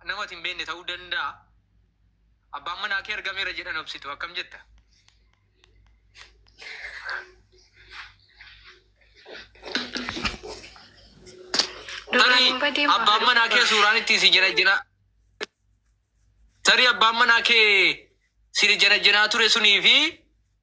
nama ati hin beekne ta'uu danda'a. Abbaan manaa kee argameera jedhan obsitu akkam jetta? Tarii abbaan manaa kee suuraan ittiin si janajjanaa tarii abbaan manaa kee si janajjanaa ture sunii fi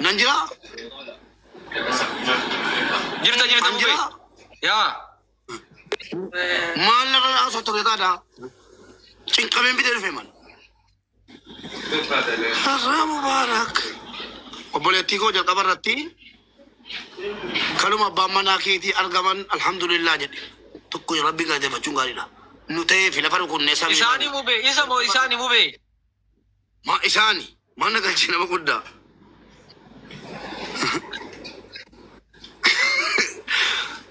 Nan jira. Jirta jirta An jira. bubee. Yaa. Maal narra haasoo ture taata? Cinqameen bitee dhufe man. Har'aa mubaarak. Obboleettii koo jalqaba irratti kanuma abbaan manaa keetii argaman alhamdulillah jedhe. Tokko rabbi galateeffachuun gaariidha. Nu ta'ee fi lafa rukunnee samii. Isaanii bubee. Isa moo isaanii bubee. Ma isaani ma na galchi nama guddaa.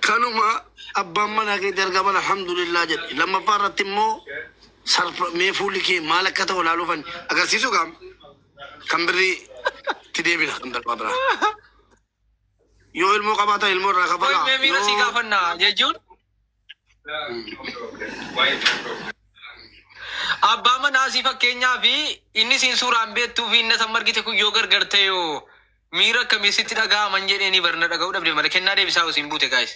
Kanuma abbaan manaa keetti argaman alhamdulillah jedhe. Lammaffaa irratti immoo sarfa mee fuulli kee maal akka ta'u ilaaluu fan agarsiisu gaam kan birrii itti deebina kan darbaa biraa. Yoo ilmoo qabaatan ilmoo irraa Qoy kafalaa. mee miira sii Yoo- gaafannaa jechuun Abbaa manaa sii fakkeenyaa fi inni siin suuraan beektuu fi inni san margite kun yoo gargar ta'e hoo miira akkamii sitti dhaga'aman jedhee ni barna dhaga'uu dhabde malee kennaa deebisaa hoo siin buute gaayis.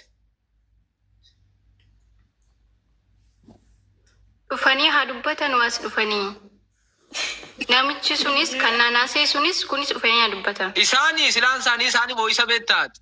Dhufanii haa dubbatan waas dhufanii. Namichi sunis kan naanaasee sunis kunis dhufanii haa dubbatan. Isaanii silaan isaanii isaanii moo isa beektaati?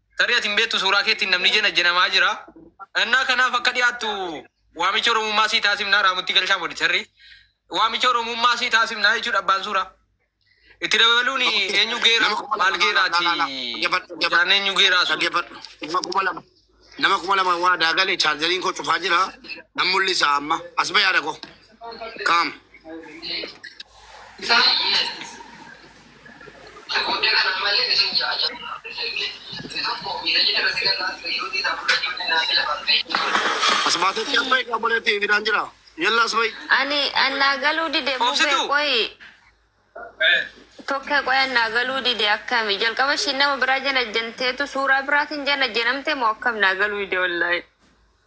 Tarii ati hin beektu suuraa keetiin namni jenajjenamaa jira. Ennaa kanaaf akka dhiyaattu waamicha Oromummaa sii taasifnaa Raamutti Galshaa Mooditarri. Waamicha Oromummaa sii taasifnaa jechuudha abbaan suuraa. Itti dabaluun eenyu geera maal geeraati hojaan eenyu geeraa sun. Dhaggeeffadhu. Nama kuma lama. Nama kuma lama waa daagale chaarjariin koo cufaa jira. Nan mul'isa amma. As ba'e yaada koo. Kaam. As baatetti as bahi obboleetti fidaan jira. Yalla as bahi. Ani annaa galuu dide mubee Obsituu. qoyi. Tokkee qoyi annaa galuu dide akkami. Jalqaba ishiin nama biraa janajjanteetu suuraa biraatiin janajjanamte moo akkam naa galuu dide wallaahi.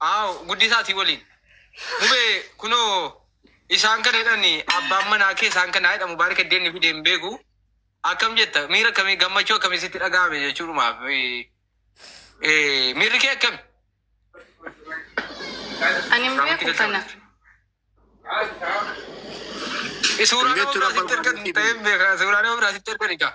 Aaw guddisaa ati waliin. Mubee kunoo isaan kana jedhani abbaan manaa kee isaan kana jedha mubaarika iddeen ni fide hin beeku. Akkam jetta miira akkamii gammachuu akkamii sitti dhaga'ame jechuudhumaaf eh, miirri kee akkami? Ani hin beeku kana. Suuraa nama biraa sitti ergan ta'ee hin beekaa suuraa nama biraa sitti ergan egaa.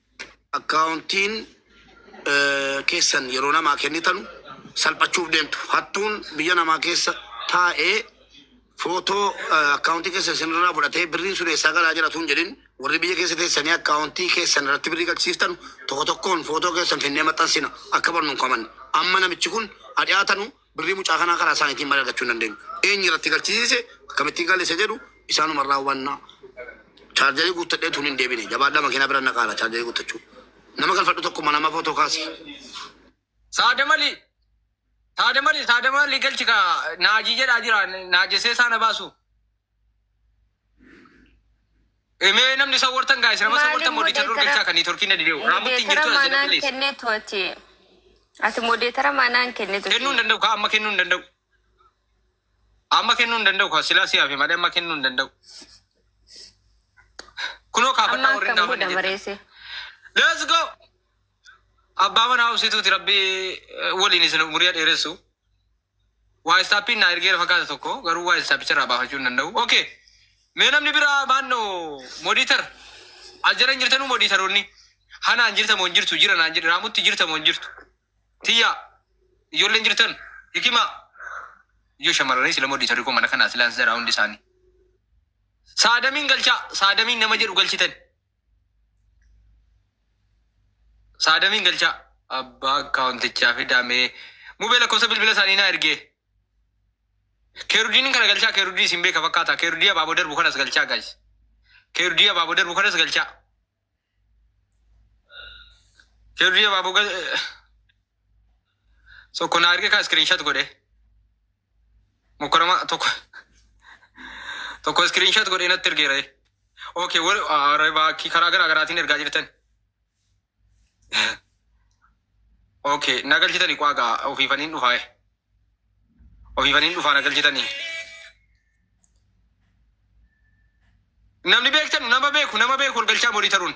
Akkaawuntiin keessan yeroo namaa kennitanu salphachuuf deemtu. Hattuun biyya namaa keessa taa'ee footoo akkaawuntii keessan isinirraa fudhatee birriin sun eessaa galaa jira tuun jedhin warri biyya keessa teessanii akkaawuntii keessan irratti birrii galchisiiftanu tokko tokkoon footoo keessan finnee maxxansina akka barnuun kaman amma namichi kun adhiyaatanu Birrii mucaa kanaa karaa isaaniitiin malee argachuu hin dandeenyu. Eenyu irratti galchisiise akkamittiin galle isa jedhu isaanuma irraa hubanna. Chaarjarii guuttadhee tun hin deebine. Jabaadhaa makiinaa bira naqaara chaarjarii guuttachuu. Nama galfadhu tokkuma nama footoo kaasi. Saada mali saada mali saada mali galchi ka naaji jedhaa jira naajesee saana baasu. Mee namni isa wartan gaa'is nama isa wartan modicha dur galchaa kan nitorkiin na didee raamutti hin jirtu as jedhu please. kennitu ati ati modeetara manaan kennitu Kennuu hin danda'u kaa amma kennuu hin danda'u. Amma kennuu hin danda'u kaa silaa siyaaf malee amma kennuu hin danda'u. Kunoo kaafadhaa amma warri hin akkam gaafanne godha jettan. mareese Let's go! Abbaa manaa obsituuti rabbi eh, waliin isin umurii dheeressu. Waayissaappiin naa ergeera fakkaata tokko garuu waayissaapicharraa baafachuu hin danda'u. Okay. Mee namni biraa maanno modiitar as jala hin jirtanuu modiitaroonni hanaan jirta moo hin jirtu jira naan jedhe raamutti jirta moo hin jirtu tiyyaa ijoolleen jirtan hikimaa iyyuu shamarranii sila modiitarri koo mana kanaa silaan sira hundi isaanii saadamiin galchaa saadamiin nama jedhu galchitan Saadamiin galchaa. Abbaa akkaawuntichaa fidaa mee. Mubee lakkoofsa bilbila isaanii naa ergee. Keerudiin kana galchaa keerudii isin beeka fakkaata. Keerudii abaaboo darbu kanas galchaa gaayis. Keerudii abaaboo darbu kanas galchaa. Keerudii abaaboo gal... Tokko na arge kaa screenshot godhe. Mukkarama tokko tokko screenshot godhe natti ergeera. Okay, wal arabaa karaa garaa garaatiin ergaa jirtan. Okay, na galchitanii qaagaa ofiifaniin dhufaa. Ofiifaniin dhufaa na galchitanii. Namni beektan nama beeku nama beeku wal galchaa morii taruun.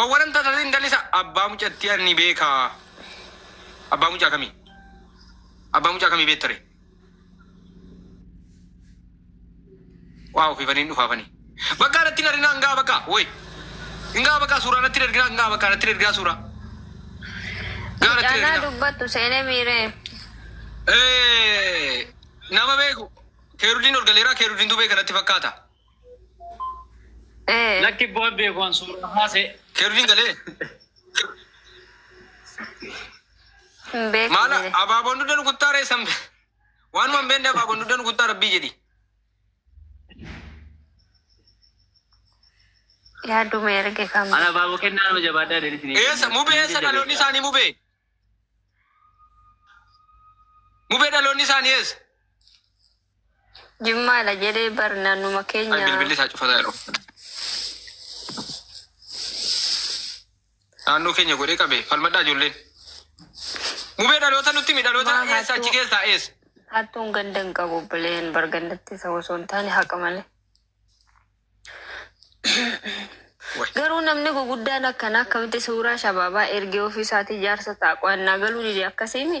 Owwalan tasasin dalisa abbaa mucattii anni beeka abbaa mucaa kamii abbaa mucaa kamii beettare waa ofiifaniin dhufaafanii bakka anatti hin arginaa ngaa bakka woy ngaa bakka suuraa natti hin arginaa ngaa bakka natti hin arginaa suuraa ngaa natti hin Mucaan arginaa dubbattu seenee miiree. Eh, nama beeku keerudiin ol galeeraa keerudiintu beeka natti fakkaata Eh, Lakki boy beeku an suuraa haase. Kerviin galee. hin beeku Maala jedhe. abaaboon dugda nu kuttaa ree sambe. Waanuma hin beekne abaaboon dugda nu kuttaa rabbii jedhi. Yaaduma erge kan Ana baaboo kennaa nama jabaadhaa deetti. Eessa mubee eessa dhaloonni isaanii mubee? Mubee dhaloonni isaanii eessa? Jimmaa dha jedhee bar naannuma Ay, keenya. bilbilli isaa cufataa yeroo uffata. Naannoo keenya godhee qabe falmadhaa ijoolleen. Mubee dhaloota nutti himi dhaloota Maa eessa achi hattuu- keessaa eessa? Hattuun ganda hin qabu bileen bar gandatti isa osoo hin taane haqa malee. Way. Garuu namni guguddaan akkanaa akkamitti suuraa shabaabaa ergee ofii isaatii jaarsa ta'a qo'annaa galuu dide akkasiimi.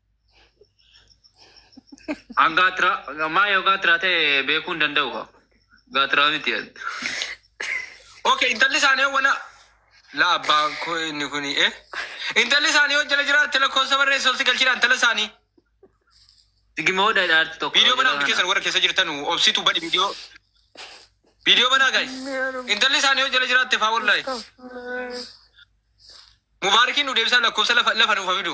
An gaatira maa yoo gaatira ta'e beekuu hin danda'u kaa. Gaatira miti. Ok intalli isaanii wala la abbaa koo inni kuni eh. Intalli isaanii yoo jala jiraatte lakkoofsa barreessi ol si galchiidha intala isaanii. Sigima hodha dhaarti tokko. Viidiyoo banaa hundi keessan warra keessa jirtan obsitu badi viidiyoo. Viidiyoo banaa gaa'e. Intalli isaanii yoo jala jiraatte faa wallahi. Mubaarikiin nu deebisaa lakkoofsa lafa lafa nuuf hafidu.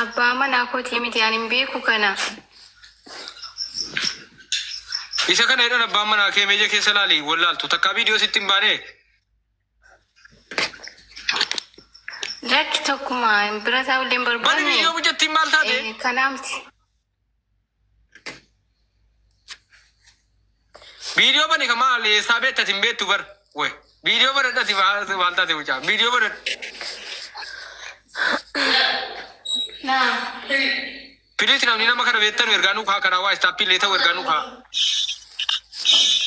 Abbaa manaa kotii miti ani hin beeku kana. Isa kana jedhan abbaan manaa kee meeja keessa laali wallaaltu takkaa viidiyoo sitti hin baane Lakki tokkuma bira taa'ullee hin barbaanne. bani viidiyoo hojjettiin maal taate? Eh, Kanaa miti. Viidiyoo bani ka maal eessaa beekta sin beektu bar. Woy. Viidiyoo banadha si maal taate mucaa. Viidiyoo banadha. Piliis namni nama kana beektanu ergaa nuu kaa karaa waa istaappii illee ta'u ergaa nuu kaa.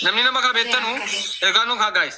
Namni nama kana beektanu ergaa nuu kaa gaayis.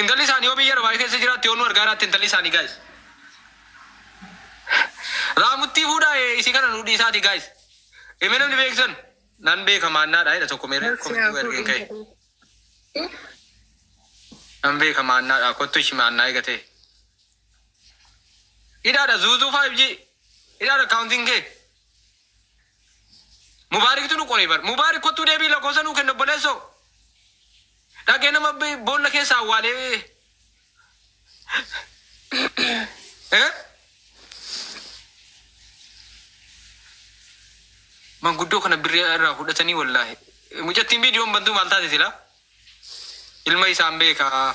Intalli isaani yoo biyya Dubai keessa jiraatte yoo nu argaa jiraatte intalli isaani guys. Raamuttii fuudhaa ee isii kana nu dhiisaati guys. Ime namni beektan nan beeka maannaadha jedha tokko meeree Nasiyaa komitii godhu ergeen ka'e. intalii. Nan beeka maannaadha kottu ishi maannaa eegatee. Hidhaadha zuuzuu 5G. Hidhaadha kaawuntiin kee. Mubaariktu nu qoree bar. Mubaarik kottuu deebii lakkoofsa nuu kenna obboleessoo. Dhagee nama bi- boolla keessa awwaalee. Eh? Manguddoo kana birrii irraa fudhatanii wallaahi. Mucattiin viidiyoon bantuu maal taate silaa? Ilma isaan beekaa.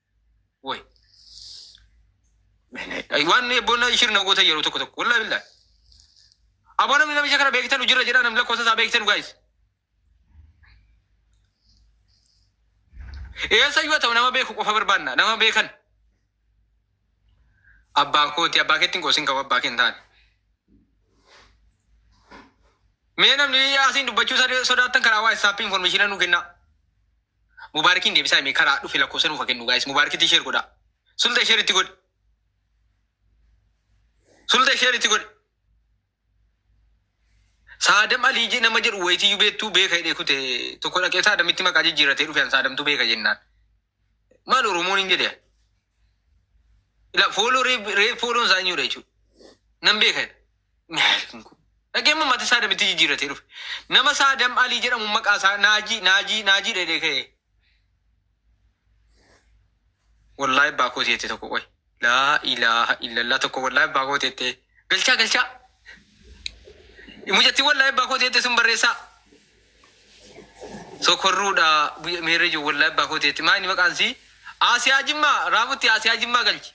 Way. Waan bonna ishir na goota yeroo tokko tokko. Wallah billah. Aboo namni namicha kana beektan hojirra jedhaa namni lakkoofsa isaa beektan guys. Eessa yoo ta'u nama beeku qofa barbaanna nama beekan. Abbaa kooti abbaa keetti hin qoosin qabu abbaa kee hin taane. Mee namni asiin dubbachuu sodaattan karaa waa isaappi infoormeeshina nu kennaa. Mubaarikiin deebisaa hime karaa dhufe lakkoofsa nuuf kennu guys. Mubaarikitti share godha. Sulta share itti godhi. Sulta share itti godhi. Saadam Alii je- nama jedhu wayitiyyuu beektuu beeka hidhee kute tokko dhaqee saadamitti maqaa jijjiirratee dhufe an saadamtu beeka jennaan. Maal Oromoon hin jedhe? Ila fuuluu riif riif fuuluun isaa eenyudha jechuudha. Nan beeka jedha. Maalkin kun. Dhagee immoo mata isaa damitti jijjiirratee dhufe. Nama isaa Adam Alii jedhamu maqaa isaa Naajii Naajii Naajii dheedhee ka'ee. Wallaahi abbaa kooti jettee tokko qoy. Laa ilaaha illallah tokko wallaahi abbaa kooti jettee. Galchaa galchaa. Mucattiin wallaahi abbaa kooti jettee sun barreessaa. Sokorruu dha meerre ijoo wollahi abbaa koo teetti maayini maqaan isii Aasiyaa Jimmaa Raafutti Aasiyaa Jimmaa galchi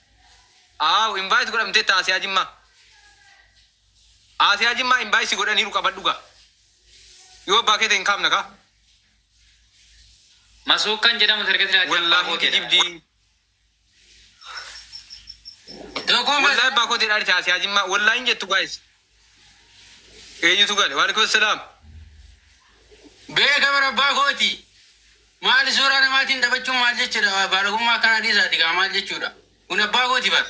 Aww invite godhamteetta Aasiyaa Jimmaa Aasiyaa Jimmaa invite si godhaniiru qabadhu gaa yoo abbaa kee ta'e hin kaafna kaa Masuukkan jedhamu target laati abbaa wollahi koo teedha. kijibdii Dogooma. Wallahi abbaa kootiin dhaali ta'a siyaa jimmaa. Wallahi hin jettu guys. Eenyutu gale? Waalaikum salaam. Beeka bara abbaa kooti. Maali suuraa namaatiin taphachuun maal jechuudha? Baalagummaa akkanaa dhiisaati kaa maal jechuudha? Kun abbaa kooti bara.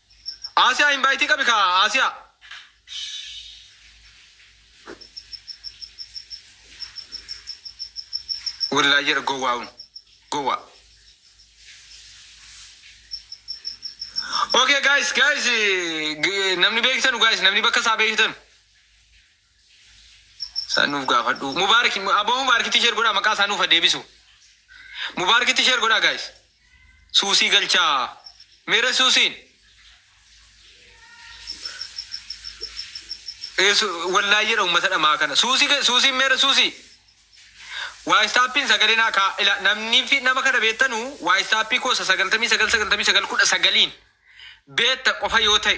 Aasiyaa invite qabi kaa Aasiyaa. Wallahi jedha gowwaa kun. Gowwaa. Okay guys guys eh, g- namni beektan guys namni bakka isaa beektan. San nuuf gaafadhuu. Mubaarik aboo mubaarkitti sheer godhaa maqaa isaa nuuf ha deebisu. Mubaarkitti sheer godhaa guys. Suusii galchaa. Meera suusiin. Eesu wallaayii jedha uummata dhamaa kana. Suusii ga- suusiin meera suusii. Waayistaapiin sagalee naa kaa ila namni fi nama kana beektanu waayistaappii koosa sagaltamii sagal sagaltamii sagal kudha sagaliin beekta qofa yoo ta'e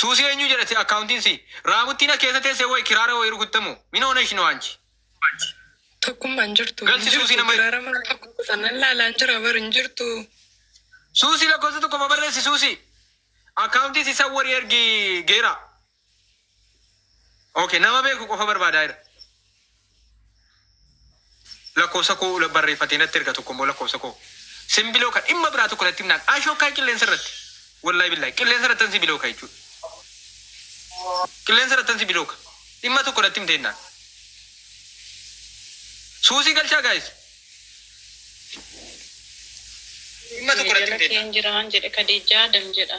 Suusii eenyuu jedhate akkaawuntiin sii? Raamuttiin as keessa teesse woy kiraara woy rukutte moo? Min hoonesh noo anchi? Tokkumma hin jirtu. Galchi Hin suusii jirtu. nama- Kiraara mana tokko kutan nan laalaan jira bar hin jirtu. Suusii lakkoofsa tokko ma barreessi suusii? Akkaawuntii si sawwari ergi geera. Okay nama beeku qofa barbaadaa jira. Lakkoofsa koo la- barreeffatee natti erga tokko immoo lakkoofsa koo. Sin biloo kan dhimma biraa tokko natti himnaan ashokkaa qilleensa irratti. Wallahi billahi qilleensa irratti ansi biloo kan jechuudha. Qilleensa irratti ansi biloo kan. Dhimma tokko natti himtee himnaan. Suusii galchaa gaayis. Dhimma tokko natti himtee himnaan. Keen jiraan jedhe Kadijaa dam jedha.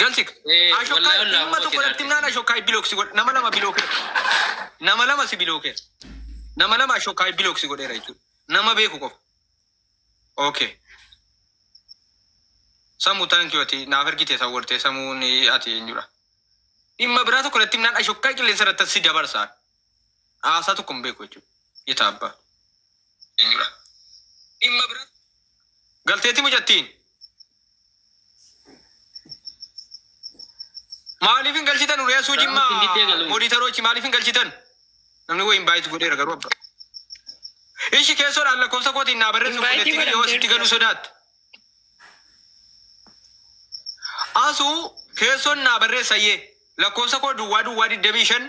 Galchik. Eh, Ashokkaa wallahi wallahi dhimma tokko abbootiin natti himnaan argisiisa. ashokkaa biloksi godhe nama lama bilookera. Nama lama si bilookera. Nama lama ashokkaa biloksi godheera jechuudha. Nama beeku qofa. Okay. Samuu thank you ati naaf ergite isa wartee samuun ati eenyudha. Dhimma biraa tokko natti himnaan ashokkaa qilleensa irratti si dabarsa. Haasaa tokko hin beeku jechuudha. Yetaa abbaa. Eenyudha? Dhimma bira. Galteetti mucattiin. Maaliif hin galchitan Uriyaa Suujii Raawwatti maa diddee galuun. moodiitarochi maaliif hin galchitan? Namni wayi invaayitii godheera garuu abbaa. Ishi keessoodhaan lakkoofsa kootiin naa barreessu Invaayitii fudhattiin godhan yoo asitti jedhu. galuu sodaatte. Asuu keessoon naa barreessayyee lakkoofsa koo duwwaa duwwaa digdamii shan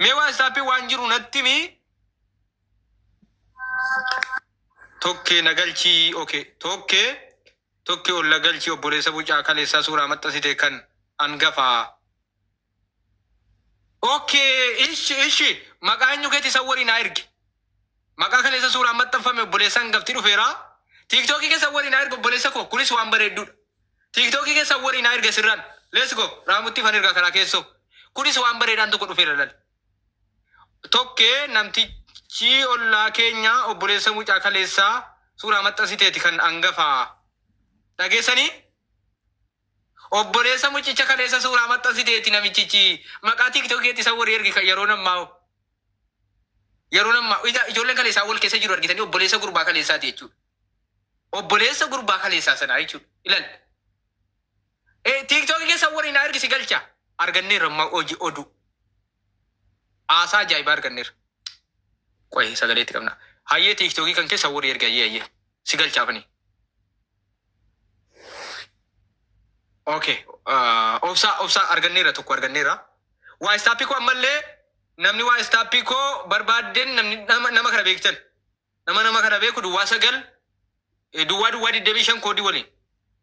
Mee waatsaappii waan jiru natti himi. Tokkee na galchii okay. Tokkee tokkee ol na galchii obboleessa bucaa kaleessaa suuraa maxxansite kan angafaa. Okay ishi ishi maqaa eenyu keeti isa waliin haa ergi. Maqaa kaleessa suuraan maxxanfame obboleessa hangafti dhufeera. Tiiktookii keessan walii naa erga obboleessa koo kunis waan bareedduudha. Tiiktookii keessan walii naa erga sirraan. Let's go raamutti fan erga karaa keessoo. Kunis waan bareedaan tokko dhufeera lali. Tokkee namtichi ollaa keenya obboleessa mucaa kaleessaa suuraa maxxansiteeti kan angafaa. Dhageessanii? Obboleessa muccicha kaleessa suuraa maxxansiteetti namichichi maqaa tiktok keetti isa wari ergi kan yeroon ammaa hoo yeroon ammaa ija ijoolleen kaleessaa wal keessa jiru argitanii obboleessa gurbaa kaleessaati jechuudha. Obboleessa gurbaa kaleessaa sanaa jechuudha. Ilal. Eh, tiktok keessa wari na ergi si galcha. Arganneerra ammaa hojii oduu. Haasaa ajaa'ibaa arganneerra. Qoyi sagalee itti qabnaa. Hayyee tiiktookii kan kee sawwori ergi hayyee hayyee. Si galchaaf ani. Okay. Uh, obsaa obsaa arganneerra tokko arganneerra. Waa istaappii koo ammallee namni waa istaappii koo barbaadden namni nama, nama kana beektan. Nama nama kana beeku duwwaa sagal eh, duwwaa duwwaa 25 koodii waliin.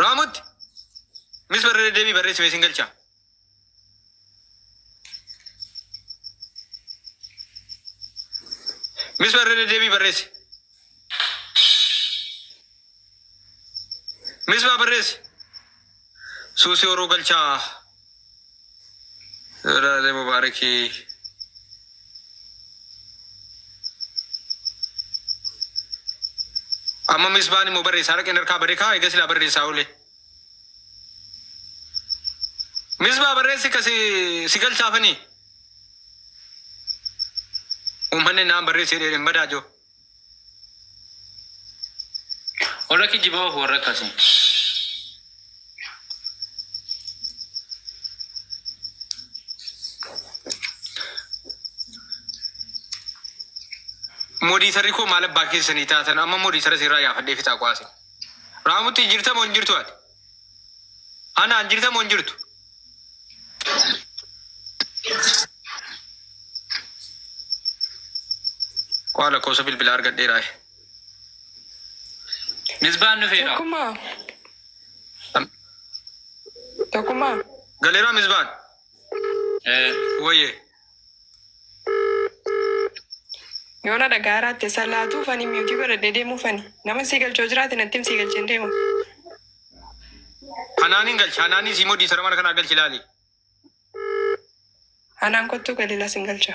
Raamutti mis barra deddeebii barreessi mee sin galcha. Mis barra deddeebii barreessi. Mis maa barreessi. Suusi horuu galchaa. Raazee Mubaarikii. Amma misbaan immoo barreessaa dhaqeen harkaa bade kaa eega silaa barreessaa oole. Misbaa barreessi ka si si galchaafanii. Uummanni naan barreessee dheedheen badaa jiru. Warra kijibaa of warra akkasii. Modiitarri koo maal abbaa keessanii taatan amma modiitara sirraa gaafadhee fixaa qo'aase. Raamutti jirta moo hin jirtu ati? Anaan jirta moo hin jirtu? Waa lakkoofsa bilbilaa argadheeraa. Misbaan dhufeera. Tokkummaa. Tokkummaa. Galeeraa misbaan. Eh, Wayyee. Yoo na dhagaa irraatte san laatuu fani miyuutii godhadhee deemuu fani. Nama sii galchoo jiraate nattim sii galcheen deema. Hanaan hin galchi. Hanaanii sii modii sara mana kanaa galchi laali. Hanaan kottuu galila sin galcha.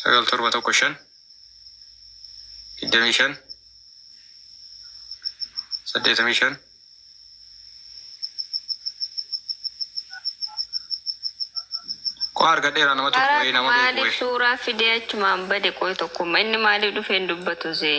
sagal torba tokko shan digdamii shan saddeetamii shan qo'a argadheeraa nama tokko Haraa wayii nama beeku maaliif wayii suuraa fidee achumaan bade qoy tokkumma inni maaliif dhufee hin dubbatu zee.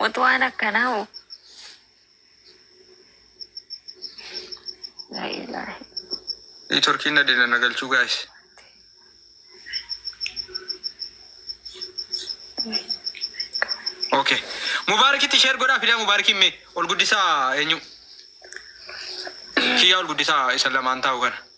What waan akkanaa hoo? La ilaha Networkiin na dida na galchuu guys. Okay. Mubaarikitti share godhaa fidaa mubaarikiin mee ol guddisaa eenyu? Kiyyaa ol guddisaa isa lamaan taa'u kana.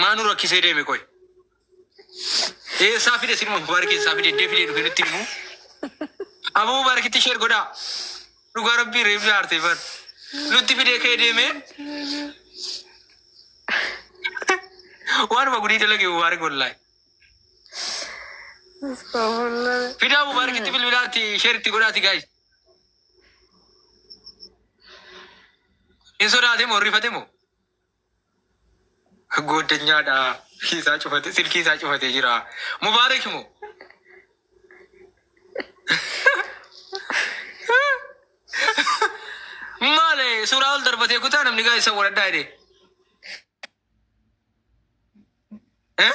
Maa nu rakkisee deeme qoy. Eessaa fide sinuma mubaariki eessaa fide iddee fide dhufe nutti himu. Aboo mubaarikitti sheer godhaa. Dhugaa rabbii reef jaartee bar. Nutti fidee ka'ee deemee waanuma gudii dalage mubaarik wallaahi. Astaghfirullah. Fidaa mubaarikitti bilbilaatti sheer itti godhaati gaayis. Hin sodaate moo rifate moo? Gooddanyaadha silkii isaa cufate silkii isaa cufatee jira. Mubaarak moo? Maale suuraa ol darbatee kutaa namni gaa isa waladhaa jedhee. Eh?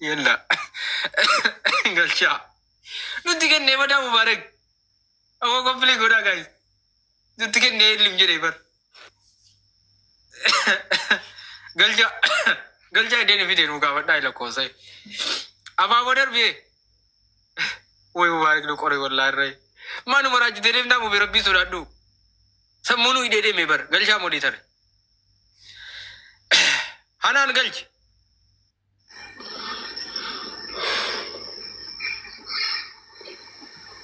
Yalla. Galchaa. Nutti kennee madaa mubaarak. Amma qophiilee godhaa gaayis. Nutti kennee illim jedhee bar. Galchaa. Galchaa ideen fidee nuu gaafadhaa ila koosee. Abaaboo darbee. Woy mubaarak nu qoree wallaa irree. Maanu maraachitee deemtaa mubee rabbii sodaadhu. Sammuunuu idee deemee bar. Galchaa modii tare. Hanaan galchi.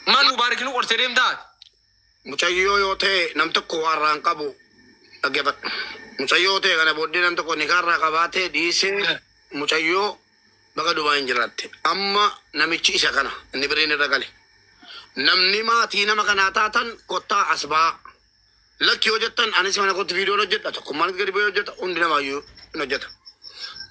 Maal nu baarikinu qorsee deemtaa? Mucayyoo yoo ta'e nam tokko waarraan qabu dhaggeeffadha. Mucayyoo ta'e kana booddee nam tokko nikaarraa qabaatee dhiisee mucayyoo baga dumaa hin jiraatte. Amma namichi isa kana inni biriin irra gale. Namni maatii nama kanaa taatan kottaa as ba'aa. Lakki yoo jettan anis mana kootti viidiyoon hojjedha tokkummaan gadi ba'ee hojjeta hundi namaayyuu hin hojjeta.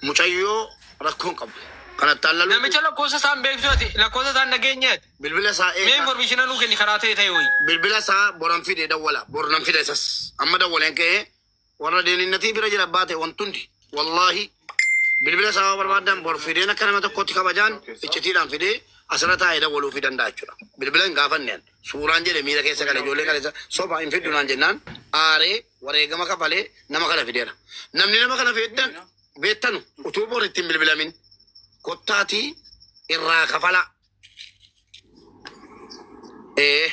Mucayyoo rakkoon qabu. Kan attaan lalu Namicha lakkoofsa isaan beektu ati lakkoofsa isaan dhageenye ati. bilbila isaa Mee eegaa. informeeshina nuu kenni karaa ta'e ta'e wayii. Bilbila isaa boran fide dawwala. Bor nan fida isas. Amma dawwaleen ka'ee Warra deeninnatii bira jira abbaa ta'e wanti hundi. Wallaahi bilbila isaa yoo barbaadan bor fideen akka nama tokkootti kabajaan iccitiidhaan fidee asirra taa'ee dawwaluufii danda'a jechuudha. Bilbila hin gaafanne an. Suuraan jedhe miira keessa gale ijoollee kaleessa soba hin fiddu naan jennaan aaree wareegama kafalee nama kana fideera. Namni nama kana fiddan beettanu utuu bor ittiin bilbilamin kottaatii irraa kafalaa. Ee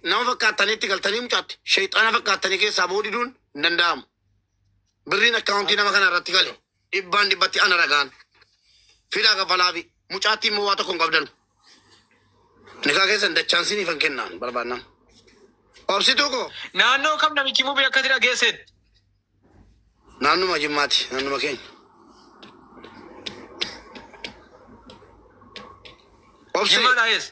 Nama fakkaattanii itti galtanii mucaatti sheexaana fakkaattanii keessaa ba'uu diduun hin danda'amu. Birriin akkaawuntii nama kana irratti gale dhibbaan dhibbatti ana ragaan fidaa kafalaa fi mucaatti immoo waa tokko hin qabdan. Nikaa keessan dachaan siniif hin kennaan barbaannaan. Obsituu koo Naannoo kam namichi mubii akkasii dhageesseet? naannuma jimmaati naannuma keenya. Obsi Jimmaa dhageesse.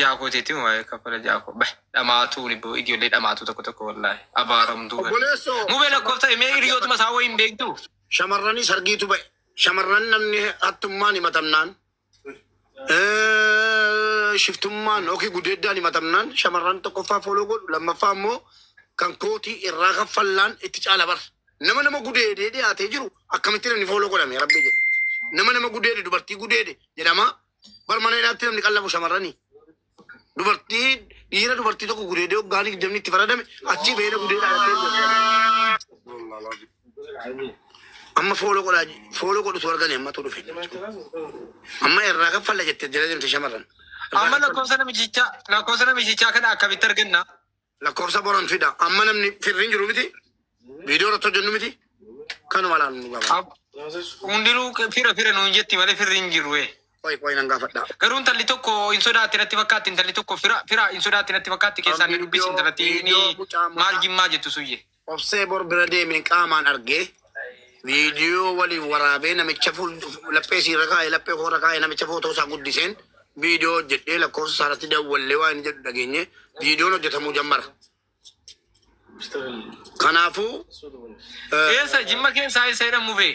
Jaakoo teetiin waa'ee kafala jaakoo bah dhamaatuu ni boo ijoollee dhamaatuu tokko tokko wallaahi abaaramtuu. Obboleessoo. Mubee lakkoofsa himee hiriyootuma isaa wayii hin beektu. Shamarranii sargiitu ba'e. Shamarran namni hattummaan himatamnaan eh, shiftummaan yookiin gudeeddaan himatamnaan shamarran tokkoffaa fooloo godhu lammaffaa immoo kan kootii irraa kaffallaan itti caala bar. Nama nama gudeedee dhiyaatee jiru akkamittiin inni fooloo godhame rabbi jedhe. Nama nama gudeede dubartii gudeede jedhama Bar mana hidhaatti namni qallabu shamarrani. Dubartii dhiira dubartii tokko gudeedee waggaa digdamni itti faradame achii beela gudeedhaa dhattee amma fooloo godhaa fooloo godhutu argani ammatu dhufe. Amma irraa kaffalla jette jala deemte shamarran. Amma lakkoofsa namichaa lakkoofsa namichaa kana akkamitti arganna? Lakkoofsa boran fida. Amma namni firri hin jiru miti. Viidiyoo irratti hojjennu miti. Kanuma laal nu gaba. Ab- Hundinuu fira fira nuun jetti malee firri hin jiru. eh. Qoy qoy nan gaafadha. Garuu intalli tokko hin sodaatti natti fakkaatti intalli tokko fira fira hin sodaatti natti fakkaatti keessaan ni dubbisi intalatti Viidiyoo mucaa mucaa. maal jimmaa jettu suyyee. Obsee bor bira deemeen qaamaan argee viidiyoo waliin waraabee namicha fuul laphee siirra kaa'ee laphee koorra kaa'ee namicha footoo isaa guddiseen viidiyoo hojjedhee lakkoofsa isaarratti dawwallee waan jedhu dhageenye viidiyoon hojjetamuu jammara. Kanaafuu Keessa jimma keessa isa jedhamu bee.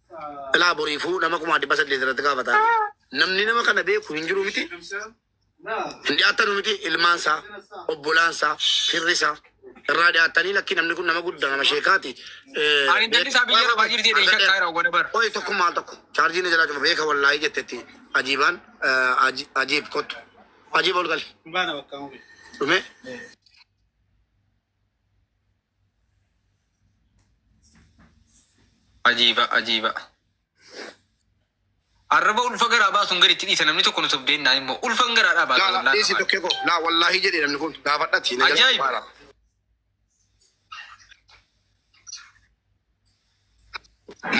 Ilaa boriifuu nama kumaa dhibba saddeet irratti gaafata. Namni nama kana beeku hin jiru miti. Hin dhiyaatanu miti ilmaan isaa, obbolaan isaa, firri isaa. Irraa dhiyaatanii lakki namni kun nama guddaa nama sheekaati. Eh, Ani intalli isaa biyya lafaa jirti jedhee shakkaa jira wagana bara. Qoy tokko maal tokko chaarjiin na jalaa cuma beeka wallaahii jettetti ajiibaan eh, aji- ajiib kottu. Ajiib ol gali. Dhume. Ajiiba ajiiba. Arraba ulfa garaa baasuun gaditti dhiisa namni tokko nu sobdeen naan immoo ulfan garaa dhaa baasa Laa wallaahi dhiisi qabaadha. tokkee koo. Laa wallaahi jedhe namni kun gaafadhati. na jala Ajaa'iba. baara.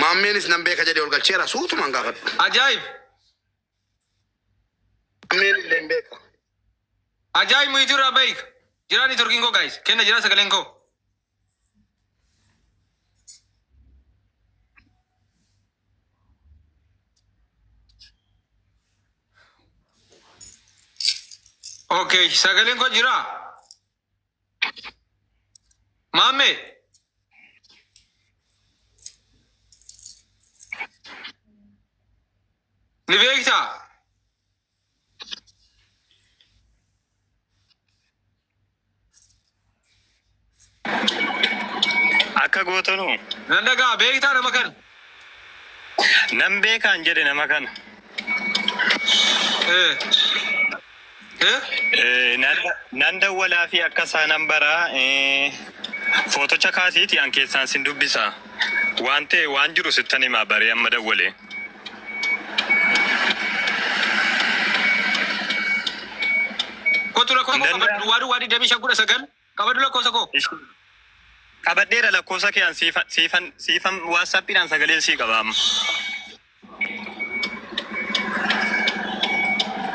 Maammeenis nan beeka jedhe ol galcheera suutumaan gaafadhu. Ajaa'ib. Ameen illee hin beeku. Ajaa'ib muhitu irraa bayik. Jiraa ni turkiin koo gaayis. Kenna jiraa sagaleen koo. Okay, sagaleen koo jiraa. Maamme. Ni beektaa? Akka gootanu. Nan dhagaa beektaa nama kana? Nan beekaan jedhe nama kana. Eh. Eh? Eh, nan, nan dawwalaa fi akka isaa nan baraa eh, footocha kaasiiti an keessaan sin dubbisa waan ta'e waan jiru sittan himaa baree amma dawwalee Kottu lakkoofsa Danda'a. koo qabadhu. Duwwaa duwwaa 25 19 Qabadhu lakkoosa koo. Qabadheera lakkoosa kee an siifa- siifan siifan waatsaappiidhaan sagaleen sii qaba amma.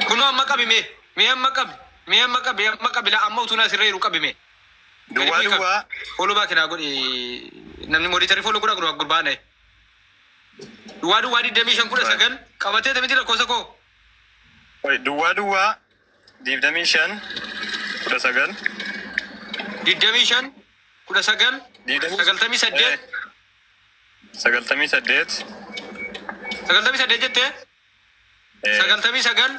Kunoo amma qabi mee. Mee amma qabi. Mee amma qabi. Amma qabi laa amma utuu na asirra jiru qabi mee. Duwwaa duwwaa Follow back naa godhi. Namni monitorii follow godhaa godhu gurbaa na'e. Duwwaa duwwaa digdamii shan kudha sagal qabatee tamiti lakkoosa koo. duwwaa duwwaa digdamii shan kudha sagal digdamii shan kudha sagal Digdamii- sagaltamii saddeet sagaltamii saddeet sagaltamii saddeet jettee eh, sagaltamii sagal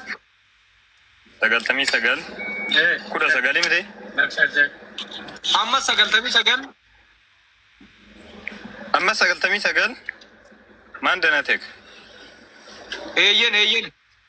sagaltamii sagal kudha sagalii miti ammas sagaltamii sagal amma sagaltamii sagal maan danateek eeyyen eeyyen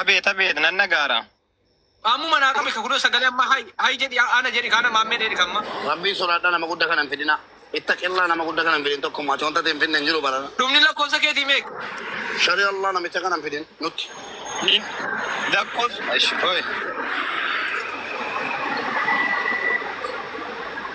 Abeet abeet nan dhagaara. Ammuma naa qabe ka kunoo sagalee amma hay hay jedhi ana jedhi kaana maammee dheedhi kamma. Rabbii sodaadha nama gudda kana hin fidina ittaqillah nama gudda kana hin fidin tokko mati wanta ta'e hin fidne hin jiru barana. Dhumni lakkoofsa keetii meeqa? Shari Allah namicha kana hin fidin nutti. Hin dakkos ashi qoy.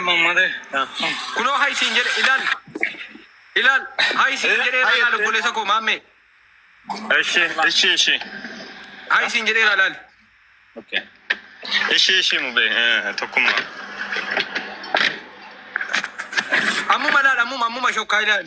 Mammadee. Kunoo haa isiin jedhe ilaal. Ilaal haa isiin jedhee Haa ilaal jette. obboleessa koo maammee. Eshi, eshi, eshi. Haa isiin jedhee ilaal. Okay. Eshi, eshi, mube. Eh, tokkumma. Ammuma ilaal ammuma ammuma shokkaa ilaal.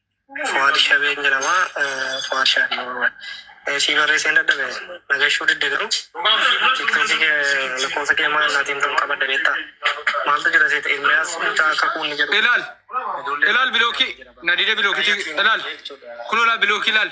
Fuad Shabee hin jedhama. Fuad Shabee Oromoon. Sii barreesseen dadhabe. Nagashuu didde garuu. Tiktookii kee lakkoofsa kee maal naatiin ta'uu qabadda beektaa? Maaltu jira seeta Ermiyaas mucaa akka kuunni jedhu. Ilaal. Ilaal bilookii. Nadide bilookii. Ilaal. Kun ilaal bilookii ilaal.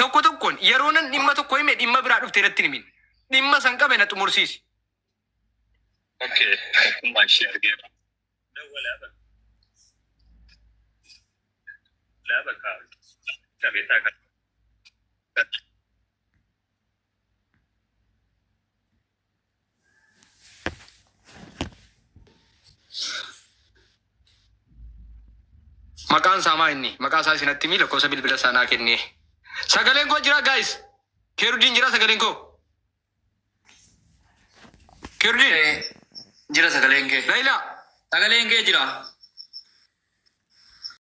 Tokko tokkoon yeroo nan dhimma tokko hime dhimma biraa dhuftee natti hin himin. Dhimma san qabe na xumursiisi. Okay, tokkummaa ishee argeera. Dawwalaa bakka. Dawwalaa bakka. Qabeetaa kan. Maqaan isaa maa inni? Maqaa isaa isinatti himii lakkoofsa bilbila isaa naa kennee. Sagaleen koo jira guys. Keerudiin jira sagaleen koo. Keerudiin. Eh, Jira sagaleen kee. Laila. Sagaleen kee jira.